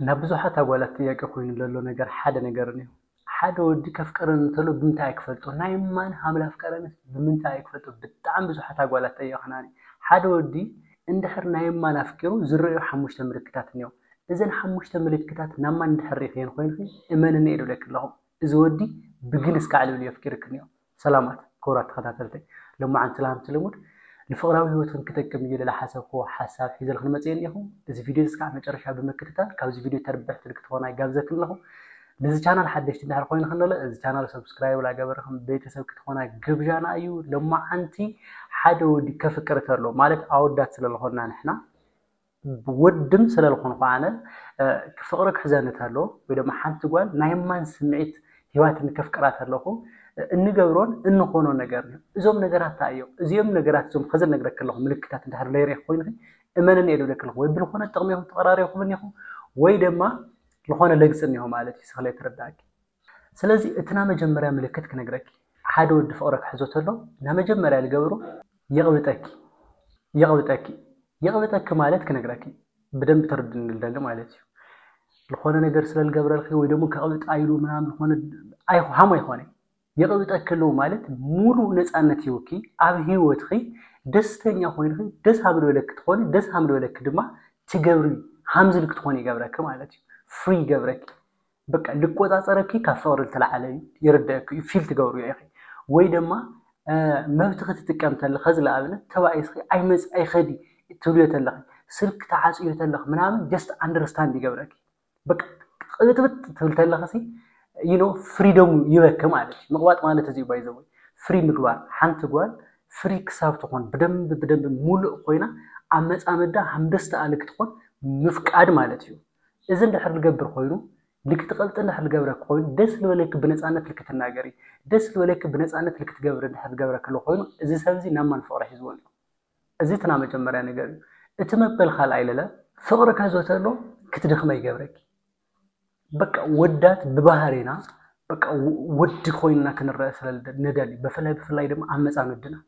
ናብ ብዙሓት ኣጓላት ጥያቄ ኮይኑ ለሎ ነገር ሓደ ነገር እንዮ ሓደ ወዲ ከፍቅረን እንተሎ ብምንታይ እየ ክፈልጦ ናይ ማን ሃም ላፍቀረንስ ብምንታይ እየ ክፈልጦ ብጣዕሚ ብዙሓት ኣጓላት ጠየቅናኒ ሓደ ወዲ እንድሕር ናይ ማን ኣፍቂሩ ዝረእዮ ሓሙሽተ ምልክታት እንዮ እዘን ሓሙሽተ ምልክታት ናብ ማን እንድሕር ሪኢክየን ኮይንኪ እመንኒ እየ ድብለኪ ኣለኩ እዚ ወዲ ብግልስ ካዕልብልዮ ኣፍቂርኪ እንዮ ሰላማት ክቡራት ተኸታተልተይ ሎማዓንቲ ላምቲ ልሙድ ንፍቕራዊ ህይወትክን ክጠቅም እዩ ልለ ሓሰብክዎ ሓሳብ ሒዘልክን መጽየ እኔኹ እዚ ቪድዮ እዚ ክሳዕ መጨረሻ ብምክትታል ካብዚ ቪድዮ ተርብሕትን ክትኾና ይጋብዘክን ኣለኹ ነዚ ቻናል ሓደሽቲ እንድሕር ኮይንክን ለለ እዚ ቻናል ሰብስክራይብ ላገበርክን ቤተሰብ ክትኾና ግብዣና እዩ ሎማዓንቲ ሓደ ወዲ ከፍቅር ተሎ ማለት ኣወዳት ስለልኾና ንሕና ወድም ሰለልኾንኹ ኣነ ፍቕሪ ክሕዘኒ ተሎ ወይ ድማ ሓንቲ ጓል ናይ እማን ስምዒት ሂባትኒ ከፍቅራ ተለኹ እንገብሮን እንኾኖ ነገር እዩ። እዞም ነገራት እንታይ እዮም? እዚኦም ነገራት እዞም ኸዚ ልነግረኪ ኣለኹ ምልክታት እንድሕር ለይርኢኺ ኮይንኺ እመንኒ እየ ልብለኪ ኣለኹ። ወይ ብልኾነ ጥቕሚ ኢኹም ተቐራሪብኩም እኒኹም ወይ ድማ ልኾነ ለግፂ እኒሆ ማለት እዩ። ስኽ ለይተረድኣኪ። ስለዚ እቲ ናመጀመርያ ምልክት ክነግረኪ ሓደ ወዲ ፍቅሪ ክሕዞ ተሎ ናመጀመርያ ልገብሮ ይቅብጠኪ ይቅብጠኪ ይቅብጠኪ ማለት ክነግረኪ ብደንብ ተርድኒ ልደሊ ማለት እዩ ልኮነ ነገር ስለ ልገብረልኪ ወይ ደሞ ከቅብጣ ኢሉ ምናምን ልኮነ ሃም ኣይኮነ ይቅብጠኪ ሎ ማለት ሙሉእ ነጻነት ሂውኪ ኣብ ሂወትኪ ደስተኛ ኮይንኪ ደስ ሃም ልበለኪ ትኮኒ ደስ ሃም ልበለኪ ድማ ትገብሪ ሃም ዝልኪ ትኮኒ ይገብረኪ ማለት እዩ ፍሪ ይገብረኪ በቃ ልቆጻጸረኪ ካብ ፍቅሪ ልተላዓለ እዩ ይርደኣኪ እዩ ፊል ትገብርዮ ኢኪ ወይ ደማ መብትኪ ትጥቀም ተለከ እዚ ልኣብነት ተባኢስኪ ኣይመጽ ኣይከዲ ትብልዮ ተለኪ ስልክ ትዓጽዮ ተለኪ ምናምን ጀስት ኣንደርስታንድ ይገብረኪ በቃ ቅብጥብጥ ትብል ተለኪ ሲ you know ፍሪደሙ ይበኪ ማለት እዩ ምቅባጥ ማለት እዚ ባይ ዘ ወይ ፍሪ ምግባር ሓንቲ ጓል ፍሪ ክሳብ ትኾን ብደንብ ብደንብ ሙሉእ ኮይና ኣብ መጻምዳ ሃምደስተ ኣልክ ትኾን ምፍቃድ ማለት እዩ እዚ እንድሕር ልገብር ኮይኑ ልክትቀልጥን እንድሕር ልገብረኪ ኮይኑ ደስ ልበለኪ ብነፃነት ልክትናገሪ ደስ ልበለኪ ብነፃነት ልክትገብሪ እንድሕር ልገብረኪ ኣሎ ኮይኑ እዚ ሰብ እዚ ናብ መን ፍቅሪ ሒዝዎ እንድዩ እዚ እቲ ናመጀመርያ ነገር እዩ እቲ መበል ካልኣይ ለለ ፍቅሪ ከዘ ተሎ ክትደክመ ይገብረኪ በቃ ወዳት ብባህሪና በቃ ወዲ ኮይንና ክንረእ ስለ ነደሊ በፍላይ ብፍላይ ድማ ኣብ መፃምድና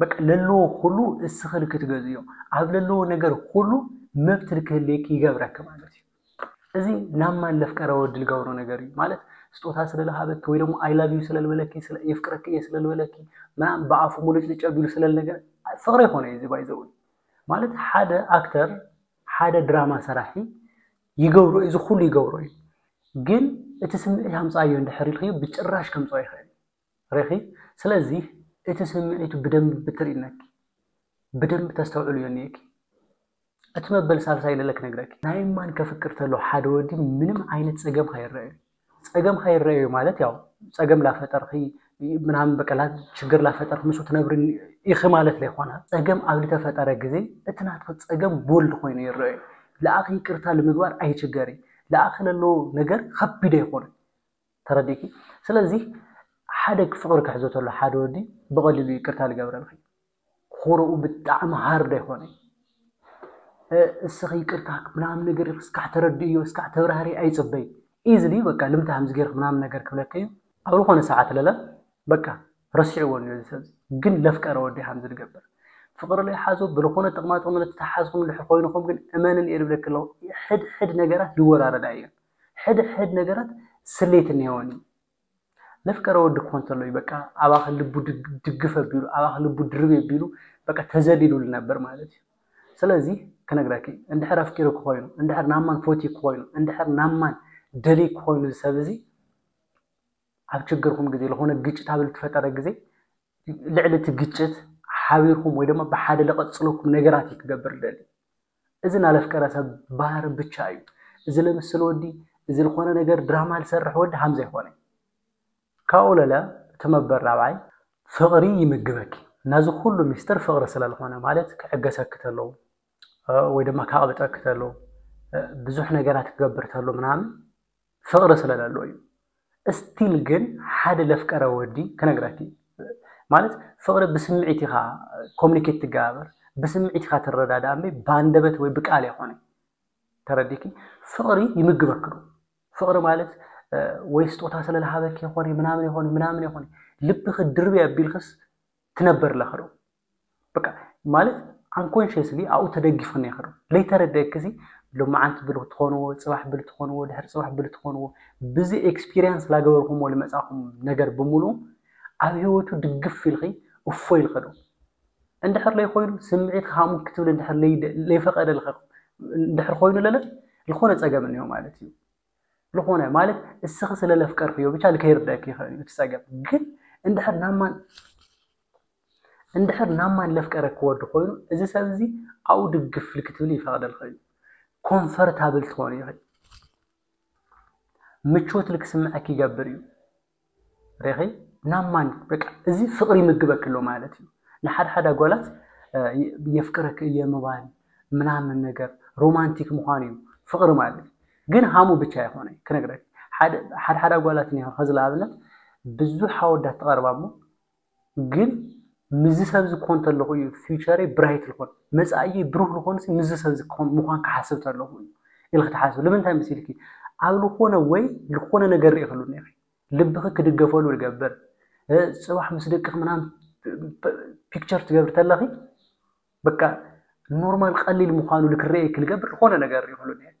በቃ ለለዎ ኩሉ እስኺ ንክትገዝእዮ ኣብ ለለዎ ነገር ኩሉ መብት ንክህልየኪ ይገብረኪ ማለት እዩ። እዚ ናብ ማን ለፍቀረ ወዲ ልገብሮ ነገር እዩ ማለት ስጦታ ስለልሃበኪ ወይ ደግሞ ኣይ ላቭ ዩ ስለልበለኪ የፍቅረኪ እየ ስለልበለኪ ምናምን ብኣፉ ሙልጭልጭ ኣቢሉ ስለልነገር ፍቅሪ ይኮነ እዚ ባይዘው ማለት ሓደ ኣክተር ሓደ ድራማ ሰራሒ ይገብሮ እዩ እዚ ኩሉ ይገብሮ እዩ ግን እቲ ስምዒት ኣምፃዮ እንድሕር ኢልክዮ ብጭራሽ ከምፅኦ ይኽእል ሪኺ ስለዚ እቲ ስምዒቱ ብደንቢ ብትሪእነኪ ብደንቢ ተስተውዕልዮ እኒኤኪ እቲ መበል ሳልሳይ ለለ ክነግረኪ ናይ እማን ከፍቅር ተሎ ሓደ ወዲ ምንም ዓይነት ጸገም ካይረኣዮ ጸገም ካይረኣዮ ማለት ያው ጸገም ላፈጠርኺ ምናምን በቀላ ችግር ላፈጠርኪ ምስ ትነብሪ ኢኺ ማለት ለይኮነ ጸገም ኣብ ልተፈጠረ ግዜ እቲ ናትኺ ጸገም ቦልድ ኮይኑ ይረኣዮ ለኣኺ ይቅርታ ልምግባር ኣይችገሪ ለኣኺ ለሎ ነገር ከቢድ ኣይኮነ ተረዲእኪ ስለዚ ሓደ ፍቅሪ ክሕዞ ተሎ ሓደ ወዲ ብቀሊሉ ይቅርታ ልገብረልኪ ኹሩኡ ብጣዕሚ ሃርድ ኣይኮነይ እስኺ ይቅርታ ምናምን ነገር እስካዕ ተረድእዮ እስካዕ ተብራህሪ ኣይፅበይ ኢዝሊ በቃ ልምታ ከምዚ ገይርክ ምናምን ነገር ክብለኪ እዩ ኣብ ልኾነ ሰዓት ለለ በቃ ረሲዕዎ እኒኦ እዚ ሰብዚ ግን ለፍቀረ ወዲ ከምዚ ልገብር ፍቅሪ ለይሓዞ ብልኾነ ጥቅማጥቅሚ ለተተሓሓዝኹም እንድሕር ኾይንኹም ግን እመንኒ እየ ልብለኪ ኣለኹ ሕድ ሕድ ነገራት ይወራረዳ እየን ሕድሕድ ነገራት ስሌት እኔወን እዩ። ለፍቀረ ወዲ ክኾን ተሎ እዩ በቃ ኣባኺ ልቡ ድግፍ ኣቢሉ ኣባኺ ልቡ ድርብ ኣቢሉ በቃ ተዘሊሉ ልነበር ማለት እዩ። ስለዚ ክነግረኪ እንድሕር ኣፍቂሩ ክኾይኑ እንድሕር ናማን ፎትዩ ክኾይኑ እንድሕር ናማን ደልዩ ክኾይኑ እዚ ሰብ እዚ ኣብ ችግርኩም ግዜ ዝኾነ ግጭት ኣብ ልትፈጠረ ግዜ ልዕሊ እቲ ግጭት ሓቢርኩም ወይ ድማ ብሓደ ለቐፅለኩም ነገራት እዩ ክገብር ደልዩ እዚ ናለፍቀረ ሰብ ባህር ብቻ እዩ እዚ ልምስል ወዲ እዚ ልኮነ ነገር ድራማ ልሰርሕ ወዲ ሃም ዘይኮነ ካብኡ ለለ እቲ መበር ራብዓይ ፍቅሪ ይምግበኪ ናዚ ኩሉ ሚስጥር ፍቅሪ ስለ ልኮነ ማለት ክዕገሰኪ ተሎ ወይ ድማ ካቅብጠኪ ተሎ ብዙሕ ነገራት ክገብር ተሎ ምናምን ፍቅሪ ስለ ለለዎ እዩ እስቲል ግን ሓደ ለፍቀረ ወዲ ክነግረኪ ማለት ፍቅሪ ብስሚዒት ኢካ ኮሚኒኬት ትጋባበር ብስሚዒት ኢካ ትረዳዳኣ እምበይ ባንደበት ወይ ብቃል ኣይኮነይ ተረዲኪ ፍቅሪ ይምግበኪ ዶ ፍቅሪ ማለት ወይ ስጦታ ስለ ለሃበኪ ኣይኮነይ ምናምን ኣይኮነይ ምናምን ኣይኮነይ ልብኪ ድርብይ ኣቢልክስ ትነበር ለኪ ዶ በቃ ማለት ኣንኮንሽስሊ ኣብኡ ተደጊፉ ነይሩ ለይተረደእክ ዚ ሎመዓንቲ ብል ትኾንዎ ፅባሕ ብል ትኾንዎ ድሕሪ ፅባሕ ብል ትኾንዎ ብዚ ኤክስፒሪንስ ላገበርኹምዎ ልመፃእኹም ነገር ብምሉኡ ኣብ ህይወቱ ድግፍ ኢልኺ እፎይ ኢልኺ ዶ እንድሕር ለይኾይኑ ስምዒትክ ሃሙክ ክትብል እንድሕር ለይፈቐደልክ እንድሕር ኾይኑ ለለ ልኾነ ፀገም እኒሆ ማለት እዩ። ልኾነ ማለት እስኺ ስለ ለፍቀርክዮ ብቻ ልከይርደእኪ ይኸእል እዩ እቲ ጸገም ግን እንድሕር ናብ ማን እንድሕር ናብ ማን ለፍቀረ ክወዲ ኮይኑ እዚ ሰብ እዚ ኣብኡ ድግፍ ልክትብል ይፈቅደልኺ እዩ ኮንፈርታብል ትኾኑ ይኸ ምቾት ልክስምዐኪ ይገብር እዩ ሪኺ ናብ ማን በቃ እዚ ፍቅሪ ይምግበክ ኣሎ ማለት እዩ። ንሓድ ሓድ ኣጓላት የፍቅረክ እየ ምባል ምናምን ነገር ሮማንቲክ ምዃን እዩ ፍቅሪ ማለት ግን ሃሙ ብቻ ኣይኾነ ክነግረክ ሓድ ሓድ ኣጓላት እኒሀ ከዚ ንኣብነት ብዙሕ ኣወዳት ትቀርባ እሞ ግን ምስዚ ሰብ እዚ ክኾን ተለኹ እዩ ፊውቸረይ ብራይት ልኾን መፃእየይ ብሩህ ልኾን ሲ ምስዚ ሰብ እዚ ክኾን ምዃን ክሓስብ ተለኹ እዩ ኢልኺ ትሓስቢ ልምንታይ መሲልኪ ኣብ ልኾነ ወይ ልኾነ ነገር ርኢኺ ሉ ኔርኺ ልብኺ ክድገፈሉ ልገብር ፅባሕ ምስ ደቅኺ ምናምን ፒክቸር ትገብሪ ተለኺ በቃ ኖርማል ቀሊል ምዃኑ ልክረኤኪ ልገብር ልኾነ ነገር ርኢኺ ሉ ኔርኪ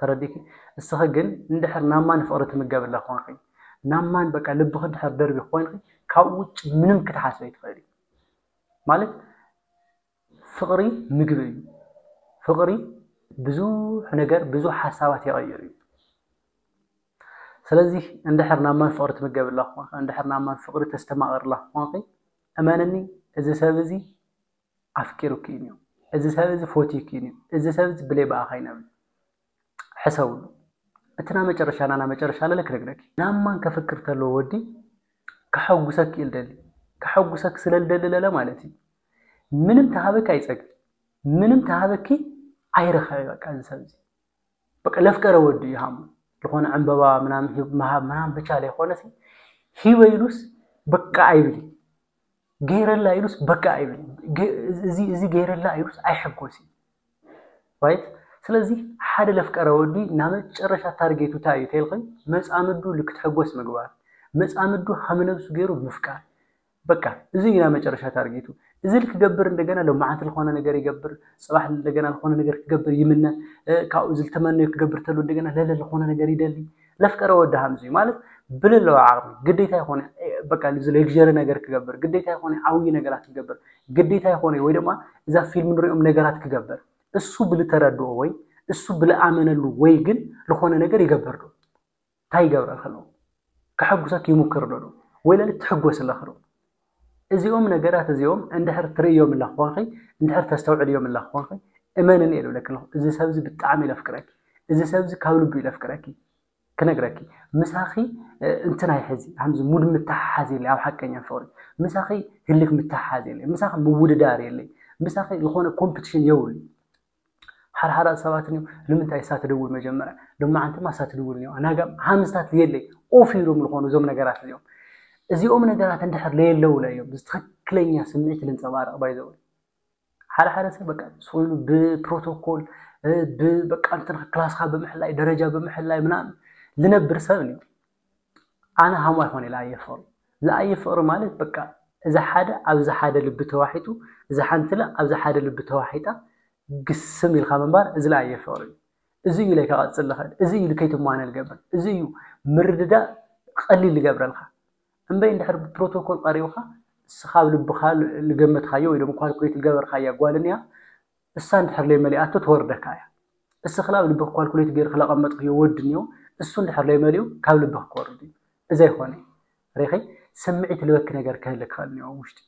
ተረዲኪ እስኺ ግን እንድሕር ናብ ማን ፍቅሪ ትምገብላ ኮንኺ ናብ ማን በቃ ልብኺ እንድሕር ደርቢኺ ኮይንኺ ካብኡ ውጭ ምንም ክትሓስቢ ኣይትኽእሊ ማለት ፍቅሪ ምግቢ እዩ ፍቅሪ ብዙሕ ነገር ብዙሕ ሓሳባት ይቀይር እዩ ስለዚ እንድሕር ናብ ማን ፍቅሪ ትምገብላ ኮንኺ እንድሕር ናብ ማን ፍቅሪ ተስተማቅርላ ኮንኺ እመንኒ እዚ ሰብ እዚ ኣፍቂሩኪ ኢዩ እዚ ሰብ እዚ ፎትዩኪ ኢዩ እዚ ሰብ እዚ ብለይ ብኣኻ ኣይነብርን ሕሰብሉ እቲ ናመጨረሻ ናናመጨረሻ ለለ ክነግረኪ ናብ ማን ከፍቅር ተሎ ወዲ ከሐጉሰኪ ኢዩ ልደሊ ከሐጉሰኪ ስለ ልደሊ ለለ ማለት ኢዩ ምንም ተሃበኪ ኣይጸግብ ምንም ተሃበኪ ኣይረኸበ በቃ እዚ ሰብ እዚ በቃ ለፍቀረ ወዱ እዩ ሃሙ ዝኾነ ዕምበባ ምናምን ሂብ ምሃብ ምናምን ብቻ ለይኮነሲ ሂበ ኢሉስ በቃ ኣይብል ገይረላ ኢሉስ በቃ ኣይብል እዚ ገይረላ ኢሉስ ኣይሕጎስ እዩ ራይት ስለዚ ሓደ ለፍቀረ ወዲ ናብ መጨረሻ ታርጌቱ እንታይ እዩ ተልኸኝ መፃምዱ ልክትሕጎስ ምግባር መፃምዱ ሃምነብሱ ገይሩ ምፍቃር በቃ እዚ እዩ ናይ መጨረሻ ታርጌቱ። እዚ ኢሉ ክገብር እንደገና ሎማዓንቲ ልኾነ ነገር ይገብር፣ ፅባሕ እንደገና ልኾነ ነገር ክገብር ይምነ፣ ካብኡ እዚ ልተመነዮ ክገብር ተሎ እንደገና ለለ ልኾነ ነገር ይደሊ። ለፍቀረ ወዲ ሃምዚ እዩ ማለት ብለለዎ ዓቕሚ ግዴታ ይኾነ በቃ እዚ ሌግዠሪ ነገር ክገብር፣ ግዴታ ይኾነ ዓብዪ ነገራት ክገብር፣ ግዴታ ይኾነ ወይ ድማ እዛ ፊልም ንሪኦም ነገራት ክገብር እሱ ብልተረድኦ ወይ እሱ ብልኣመነሉ ወይ ግን ልኾነ ነገር ይገብር ዶ? ታይ ይገብረልኺ ኣሎ ከሐጉሰኪ ይሙክር ዶ ወይለለ ትሕጎሲ ኣለኺ ዶ እዚኦም ነገራት እዚኦም እንድሕር ትርእዮም ኣለኺ ኮንኺ እንድሕር ተስተውዕልዮም ኣለኺ ኮንኺ እመንኒ እየ ዝብለኪ ዘለኹ እዚ ሰብ እዚ ብጣዕሚ እዩ ዘፍቅረኪ እዚ ሰብ እዚ ካብ ልቡ እዩ ዘፍቅረኪ ክነግረኪ ምሳኺ እንትን ኣይሕዚ ከምዚ ሙድ ምትሓሓዝ የለይ ኣብ ሓቀኛ ፍቕሪ ምሳኺ ህልኽ ምትሓሓዝ የለይ ምሳኺ ምውድዳር የለይ ምሳኺ ዝኾነ ኮምፕቲሽን የብሉ ሓርሓራት ሰባት ንዮም ንምንታይ እሳ ትድውል መጀመርያ ሎማዓንቲማ እሳ ትድውል ንዮ ናጋ ሓምስታት ልየለይ ኦፍ ኢሎም ልኾኑ እዞም ነገራት እዚኦም እዚኦም ነገራት እንድሕር ለየለው ለዮም ብዝትኽክለኛ ስምዒት ልንፀባረቕ ባይዘወይ ሓደ ሓደ ሰብ በቃ ስኢሉ ብፕሮቶኮል በቃ እንትን ክላስካ ብምሕላይ ደረጃ ብምሕላይ ምናምን ልነብር ሰብ እዩ ኣነ ሃም ኣይኮን ኢለ ኣየ ፍቅሪ ዝኣየ ፍቅሪ ማለት በቃ እዛ ሓደ ኣብዛ ሓደ ልቢ ተዋሒጡ እዛ ሓንትለ ኣብዛ ሓደ ልቢ ተዋሒጣ ግስም ኢልካ ምንባር እዝለ ኣየ ፍቅሪ እዩ እዚ እዩ ኢለካ ቀፅል ልክእል እዚ እዩ ልከይትማነ ልገብር እዚ እዩ ምርድዳእ ቐሊል ልገብረልካ እምበይ እንድሕር ብፕሮቶኮል ቀሪብካ ንስካ ኣብ ልብካ ልገመትካዮ ወይ ካልኩሌት ልገበርካያ ጓል እንያ እሳ እንድሕር ለይመሊኣቶ ትወርደካ እያ እስኽላ ኣብ ልብኽ ኳልኩሌት ገይርኽ ለቀመጥኽዮ ወድ እንዮ እሱ እንድሕር ለይመሊኡ ካብ ልብኽ ክወርድ እዩ እዚ ኣይኾነይ ሪኺ ስምዒት ልበኪ ነገር ክህሊ ክኸእል እንዮ ኣብ ውሽጢ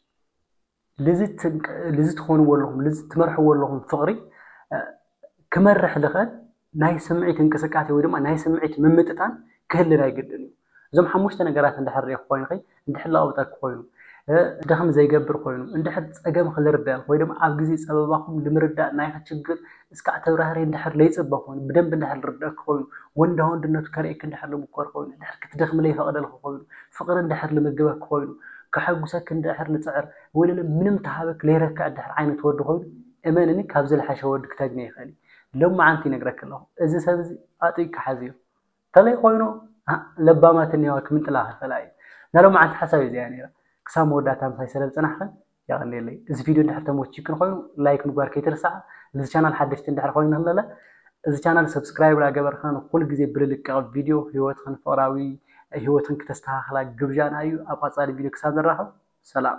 ልዚ ትኾንዎ ኣለኹም ልዚ ትመርሕዎ ኣለኹም ፍቕሪ ክመርሕ ልኸእል ናይ ስምዒት እንቅስቃሴ ወይ ድማ ናይ ስምዒት ምምጥጣን ክህሊ ናይ ግድን እዩ። እዞም ሓሙሽተ ነገራት እንድሕር ርኢኺ ኮይንኺ እንድሕር ለቕብጠኪ ኮይኑ፣ ደኽም ዘይገብር ኮይኑ፣ እንድሕር ጸገም ኽልርዳእ ወይ ድማ ኣብ ግዜ ጸበባኹም ልምርዳእ ናይኺ ችግር እስካዕ ተብራህርሂ እንድሕር ለይጽበ ኮይኑ፣ ብደንቢ እንድሕር ልርደእኪ ኮይኑ፣ ወንዳ ወንድነቱ ከርእየኪ እንድሕር ልምኮር ኮይኑ፣ እንድሕር ክትደኽሚ ለይፈቕደልኺ ኮይኑ፣ ፍቕሪ እንድሕር ልምግበኪ ኮይኑ፣ ከሐጉሰኪ እንድሕር ልጽዕር፣ ወይለለ ምንም ተሃበኪ ለይረክዕ እንድሕር ዓይነት ወዲ ኮይኑ፣ እመንኒ ካብዚ ልሐሸ ወዲ ክተግኒ ኣይክእልን እዩ። ሎማዓንቲ ይነግረኪ ኣለኩ እዚ ሰብ እዚ ኣጥቢቅኪ ሓዝዮ ተለይ ኮይኑ ለባማት እንየዋ ክምንጥላ ክክእላ እየን ናይ ሎማዓንቲ ሓሳበይ እዚ እያ ነይራ ክሳብ መወዳእታ ምሳይ ሰለ ዝፀናሕክን የቀንየለይ እዚ ቪድዮ እንድሕር ተመቺክን ኮይኑ ላይክ ምግባር ከይትርስዓ ንዚ ቻናል ሓደሽቲ እንድሕር ኮይንክን ለለ እዚ ቻናል ሰብስክራይብ ላገበርክና ንኩሉ ግዜ ብልልቀቅ ቪድዮ ህይወትክን ፍቅራዊ ህይወትክን ክተስተካክላ ግብዣና እዩ ኣብ ቀፃሊ ቪድዮ ክሳብ ንራከብ ሰላም።